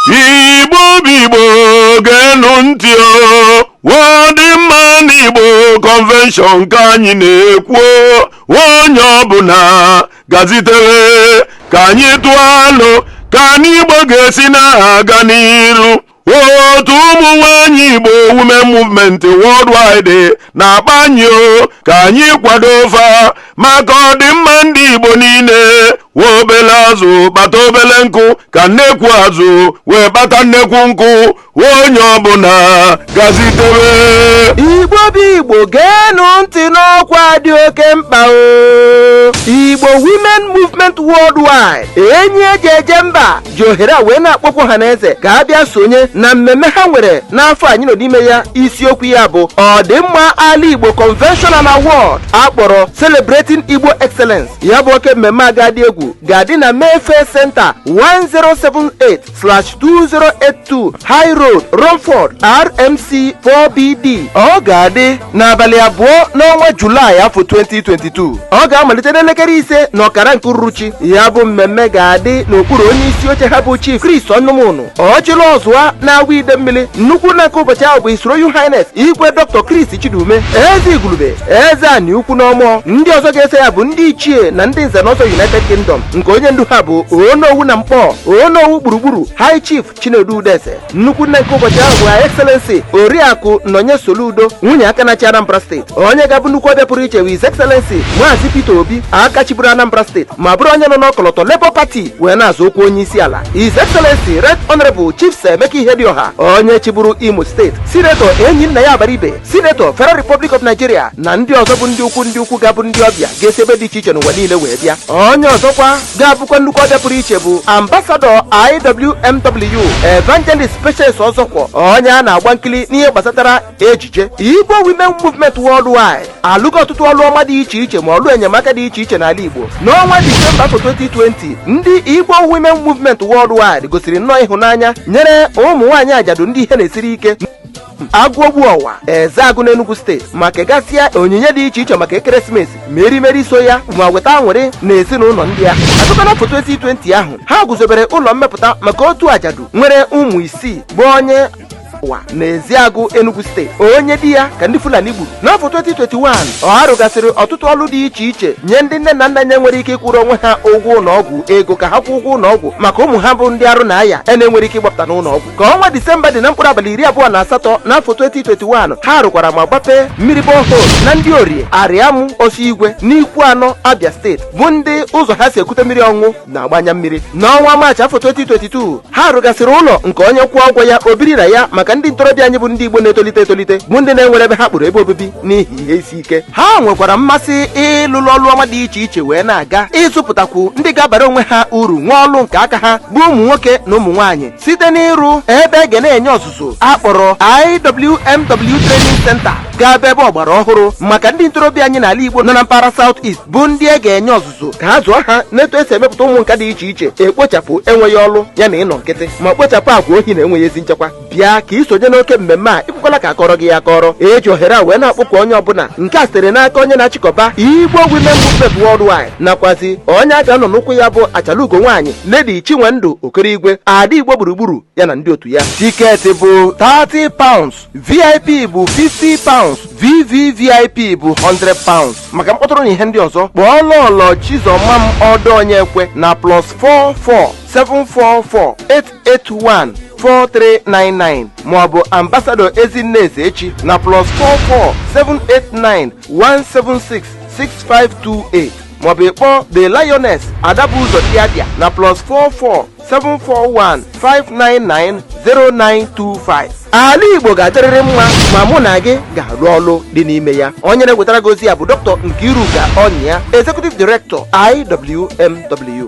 igbo bụ igbo geenụ ntị o ọdịmma ana igbo kọnvenshọn ka anyị na-ekwu onye ọbụla gazitere ka anyị tụọ alo ka anyị igbo ga-esi na-aga n'iru otu ụmụ nwanyị igbo women movement worldwide na-akpọ anyị o ka anyị kwado fa maka ọdịmma ndị igbo niile wee obele azụ kpata obele nkụ ka nnekwu azụ wee kpata nnekwu nkụ onye ọbụla gazitebe igbo bụ igbo geenụ ntị n'ọkwa dị oke mkpa o igbo women movement worldwide enyi eji eje mba ji ohere a wee na-akpọku ọha na eze ka a bịa sonye na mmemme ha nwere n'afọ anyị nọ n'ime ya isiokwu ya bụ ọdịmma ala igbo convention and award a kpọrọ celebrating igbo excellence ya bụ oke mmemme a ga-adị egwu ga-adị na mayfair center 1078/1082 high road romford rm6 4bd ọ ga-adị n'abalị abụọ n'ọnwa julaị afọ 2022 ọ ga-amalite n'elekere ise na ọkara nke uruchi ya bụ mmemme ga-adị n'okpuru onye isi oche ha bụ chief Chris Ọnụmọnụ ọchịlị ọzụa n'Awo Idemmili nnukwu nna nke ụbọchị ahụ bụ His Royal Highness igwe Dr. Chris Chidume eze Igulube eze ani ukwu n'Ọmọ ndị ọzọ ga-eso ya bụ ndị ichie na ndị nze na ọzọ United Kingdom nke onye ndu ha bụ onowu na mkpọ onowu gburugburu High Chief Chinedu Udeze nnukwu nne nke ụbọchị ahụ bụ Her Excellency Oriakụ Nonye Soludo nwunye aka na-achị Anambra steeti onye ga-abụ nnukwu ọbịa pụrụ iche bụ His Excellency Maazị Peter Obi aka chịburu Anambra steeti ma bụrụ onye nọ n'ọkọlọtọ Labour Party wee na-azọ ọkwa onye isi ala His Excellency Right Honourable Chief Sir Emeka Ihedioha onye chịburu Imo steeti Sinetọ Enyinnaya Abaribe sinetọ Federal Republic of Nigeria na ndị ọzọ bụ ndị ukwu ndị ukwu ga-abụ ndị ọbịa ga-esi ebe dị iche iche n'ụwa niile wee bịa onye ọzọkwa ga-abụkwa nnukwu ọbịa pụrụ iche bụ ambasadọ IWMW Evangelist Patience Ọzọkwọ onye a na-agba nkili n'ihe gbasatara ejije Igbo Women Movement Worldwide alụgo ọtụtụ ọlụ ọma dị iche iche ma ọlụ enyemaka dị iche iche n'ala Igbo n'ọnwa Disemba afọ 2020 ndị Igbo Women Movement Worldwide gosiri nnọọ ịhụnanya nyere ụmụ nwaanyị ajadu ndị ihe na-esiri ike agụobu ọwa ezeagụ n'enugwu steeti ma kegasịa onyinye dị iche iche maka ekeresimesi ma erimeri so ya ma weta aṅụrị na ezinụlọ ndị a ọzọkwa n'afọ 2020 ahụ ha guzobere ụlọ mmepụta maka otu ajadu nwere ụmụ isii bụ onye ọwa na ezeagụ enugu steeti onye di ya ka ndị fulani gburu n'afọ 2021 ha rụgasịrị ọtụtụ ọlụ dị iche iche nye ndị nne na nna na-enwerọ ike ịkwụrụ onwe ha ụgwọ ụnọ ọgwụ ego ka ha kwụọ ụgwọ ụnọ ọgwụ maka ụmụ ha bụ ndị arụ na-aya a na-enwerọ ike ịgbapụta n'ụnọ ọgwụ ka ọnwa disemba dị na mkpụrụ abalị iri abụọ na asatọ n'afọ 2021 ha rụkwara ma gbapee mmiri borehole na ndị orie arịamụ osi igwe n'ikwuano abia steeti bụ ndị ụzọ ha si ekute mmiri ọṅụṅụ na-agba anya mmiri n'ọnwa maachị afọ 2022 ha rụgasịrị ụlọ nke onye kwụọ ụgwọ ya o biri na ya maka ndị ntorobịa anyị bụ ndị igbo na-etolite etolite bụ ndị na-enwerọ ebe ha kpọrọ ebe obibi n'ihi ihe isi ike ha nwekwara mmasị ịlụlụ ọlụ ọma dị iche iche wee na-aga ịzụpụtakwu ndị ga-abara onwe ha uru nwee ọlụ nke aka ha bụ ụmụ nwoke na ụmụ nwaanyị site n'ịrụ ebe a ga na-enye ọzụzụ a kpọrọ IWMW Training Center ga-abụ ebe ọgbara ọhụrụ maka ndị ntorobịa anyị n'ala Igbo nọ na mpaghara South East bụ ndị e ga-enye ọzụzụ ka a zụọ ha n'etu e si emepụta ụmụ nka dị iche iche ekpochapụ enweghị ọlụ ya na ịnọ nkịtị ma kpochapụ agwa ohi na enweghị ezi nchekwa bịa ka ị sonye n'oke mmemme a ekwekwala ka a kọọrọ gị ya akọrọ e ji ohere a wee na-akpọku onye ọbụla nke a sitere n'aka onye na-achịkọba Igbo Women Movement Worldwide nakwazi onye a ga-anọ n'ụkwụ ya bụ achalugo nwaanyị lady chinwendụ okerigwe ada igbo gburugburu ya na ndị otu ya tiketi bụ 30 pounds vip bụ 50 pounds vvvip bụ 100 pounds maka mkpọtụrụ na ihe ndị ọzọ kpọọ lọlọ chizọmam ọdọ onyekwe na plus 44 744 881 4399 maọbụ ambassador ezinne ezechi na plus 44 789 176 6528 maọbụ ịkpọ The Lioness Adabu Ụzọ Diadia na plus 44 741 599 0925 ala igbo ga-adịrịrị mma ma mụ na gị ga-alụ ọlụ dị n'ime ya onye na-ewetara gị ozi a bụ dr nkiruka onyia executive director iwmw